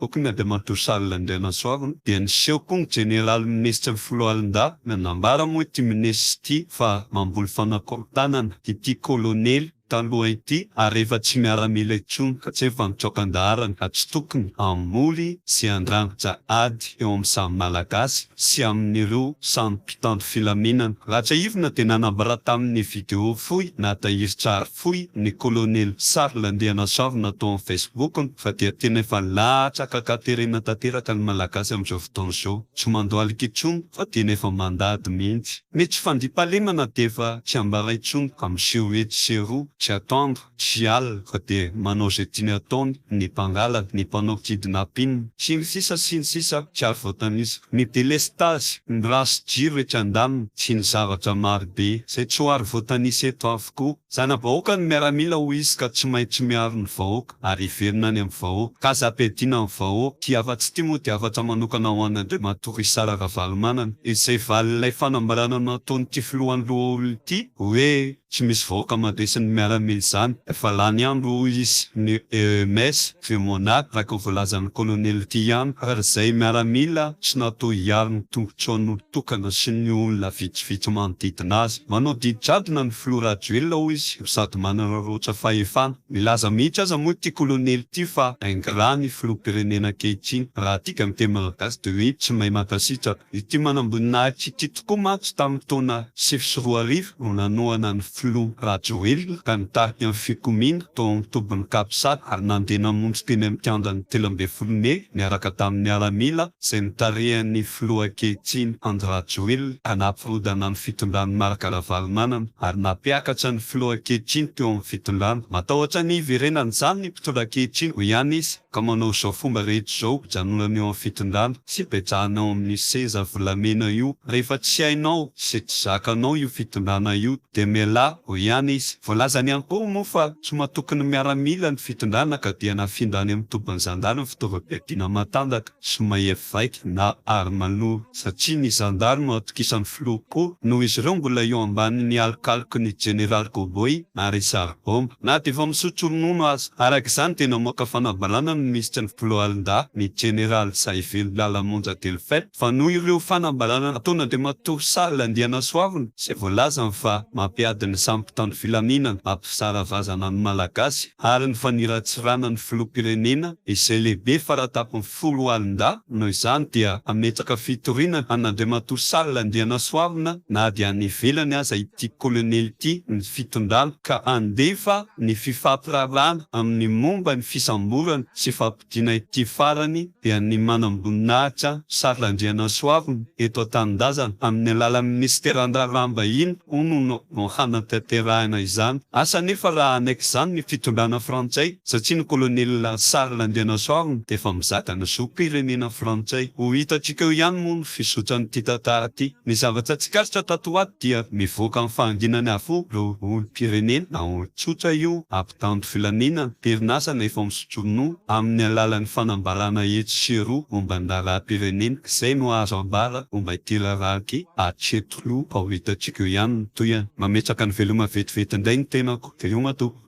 Bokin'i Adama Dosal Andrianasoavina dia niseho koa ny Jeneraly Minisitry ny Foloalindahy nanambara moa ity Minisitra ity fa mamboly fanakorontanana ity Kolonely taloha ity ary efa tsy miaramila intsony fa tsy efa mitsoaka an-daharana ka tsy tokony hamoly sy handrangitra ady eo amin'ny samy Malagasy sy amin'ireo samy mpitandro filaminana. Raha tsiahivina dia nanambara tamin'ny video fohy natahiry tsara Fohy ny Colonel Charles Andrianasavona tao amin'ny Facebook-ny fa dia tena efa latsaka an-katerena tanteraka ny Malagasy amin'izao fotoana izao. Tsy mandohalika intsony fa tena efa mandady mihitsy. Ny tsy fandriampahalemana dia efa tsy ambara intsony ka miseho etsy sy eroa tsy atoandro sy alina fa dia manao izay tiany ataony ny mpangalana, ny mpanao kidnapping, sy ny sisa sy ny sisa tsy azo voatanisa. Ny délestage, ny race jiro etsy andaniny sy ny zavatra marobe izay tsy ho ary voatanisa eto aho. tokoa. Zana-bahoaka ny miaramila hoy izy ka tsy maintsy miaro ny vahoaka ary hiverina any amin'ny vahoaka. Ka aza ampiadiana amin'ny vahoaka. Ity hafatra ity moa dia hafatra manokana ho an'Andriamatoa Richard Ravalomanana izay valin'ilay fanambarana nataon'ity filohan'ny lohaolona ity hoe tsy misy vahoaka mandresy ny miaramila izany efa lany andro hoy izy. Ny EEMS. Vieux Monard araka ny voalazan'ny Colonel ity ihany fa ry izay miaramila tsy natao hiaro ny tombotsoan'olon-tokana sy ny olona vitsivitsy manodidina azy. Manao didy jadona ny Filoha Rajoelina hoy izy no sady manana roatra fahefana. Milaza mihitsy aza moa ity Colonel ity fa ingrat ny Filoham-pirenena ankehitriny. Raha adika amin'ny teny malagasy dia hoe tsy mahay mankasitraka. Ity manamboninahitra ity tokoa mantsy tamin'ny taona sivy sy roa arivo no nanohana ny. Filoha Rajoelina ka nitarika ny fikomiana tao amin'ny tobin'ny Capsat ary nandeha namonjy teny amin'ny kianjan'ny telo ambin'ny folo mey niaraka tamin'ny miaramila izay notarihan'ny Filoha ankehitriny Andry Rajoelina ka nampirodana ny fitondran'i Marc Ravalomanana ary nampiakatra ny Filoha ankehitriny teo amin'ny fitondrana. Matahotra ny hiverenan'izany ny mpitondra ankehitriny, hoy ihany izy. Ka manao izao fomba rehetra izao mpijanolana eo amin'ny fitondrana sy mpijanona ao amin'ny seza volamena io, rehefa tsy hainao sy tsy zakanao io fitondrana io dia mialà eo ihany izy. Voalazany ihany koa moa fa tsy matoky ny miaramila ny fitondrana ka dia nafindra any amin'ny tobin'ny zandary ny fitaovam-piadiana matanjaka. tsy mahery vaika na aro manoro satria ny zandary no atokisan'ny filoha koa noho izy ireo mbola eo ambanin'ny alokaloky ny jeneraly cowboy ary saribomba na dia efa misotro ronono aza. Araka izany dia namoaka fanambarana ny minisitry ny foloalindahy ny jeneraly Zahivelo Lala Monja Delphin fa noho ireo fanambarana nataony Andriamatoa Charles Andrianasoavina izay voalazany fa mampiady ny sampy tany filaminana, mampisara vazana ny Malagasy. ary ny faniratsirana ny filoham-pirenena izay lehibe faratapony folo alin-dahy, noho izany dia hametraka fitoriana an'Andriamatoa Charles Andrianasoavina na dia any ivelany aza ity Kolonely ity ny fitondrana ka handefa ny fifampiraharahana amin'ny momba ny fisamborana sy Dina ity farany dia ny manamboninahitra Charles Andrianasoavina eto an-tanindrazana amin'ny alalan'ny minisiteran'ny raharaham-bahiny hono no hanatanterahina izany asa nefa raha hanaiky izany ny fitondrana frantsay satria ny kolonely Charles Andrianasoavina dia efa mizaka ny zom-pirenena frantsay. Ho hitantsika eo ihany moa ny fizotran'ity tantara ity. Ny zavatra tsikaritra tato ho ato dia mivoaka amin'ny fahanginany avokoa ireo olom-pirenena, tsotra io, Dambo filaminana, perinasa na efa misotro ronono, amin'ny alalan'ny fanambarana etsy sy eroa momba ny raharaham-pirenena, izay no azo ambara momba ity raharaha ity hatreto, no ho hitantsika eo ihany ny tohiny. Mametraka ny veloma vetivety indray ny tenako. Veloma tompoko.